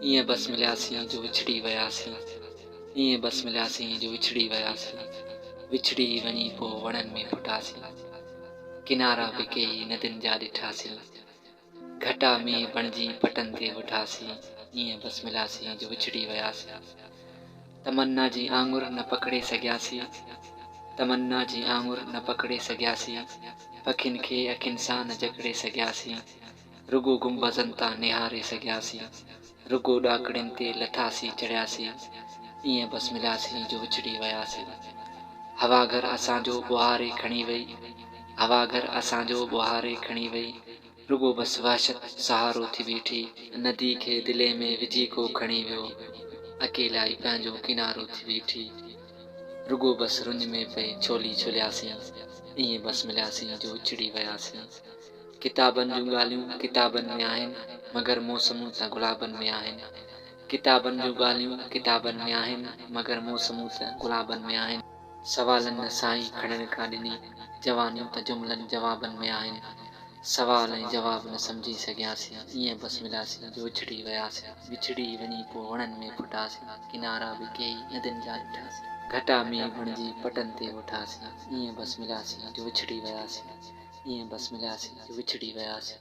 ايئن بس ملياسين جو وڇڙي وياسين ايئن بس ملياسين جو وڇڙي وياسين وڇڙي وڃي پوء وڻن ۾ ڦٽاسين ڪنارا به ڪيئي ندين جا ڏٺاسين گهٽا مينهن بڻجي پٽن تي وٺاسين ايئن بس ملياسين جو وڇڙي وياسين. تمنا جي آڱر نه پڪڙي سگهياسين تمنا جي آڱر نه پڪڙي سگهياسين پکين کي اکين سان نه جڪڙي سگهياسين رڳو گنبذن تان نهاري سگهياسين رڳو ڏاڪڻين تي لٿاسين چڙهياسين ائين بس ملياسين جو وڇڙي وياسين هوا گهر اسان جو ٻوهاري کڻي وئي هوا گهر اسان جو ٻوهاري کڻي وئي. رڳو بس وحشت سهارو ٿي بيٺي. ندي کي دلي ۾ وجهي ڪو کڻي ويو. اڪيلائي پنهنجو ڪنارو ٿي بيٺي. رڳو بس رڃ ۾ پئي ڇولي ڇولياسين. ائين بس ملياسين جو وڇڙي وياسين. ڪتابن جون ڳالهيون ڪتابن ۾ آهن مگر موسمون ته گلابن ۾ آهن. ڪتابن جون ڳالهيون ڪتابن ۾ آهن مگر موسمون ته گلابن ۾ آهن. سوالن نه سائين کڻڻ ڪا ڏني، جوانيون ته جملن جوابن ۾ آهن، سوال ۽ جواب نه سمجهي سگهياسين، ايئن بس ملياسين جو وڇڙي وياسين، وڇڙي وڃي پوء وڻن ۾ ڦٽاسين، ڪنارا به ڪيئي ندين جا ڏٺاسين، گهٽا مينهن بڻجي پٽن تي وٺاسين، ايئن بس ملياسين جو وڇڙي وياسين، ايئن بس ملياسين جو وڇڙي وياسين.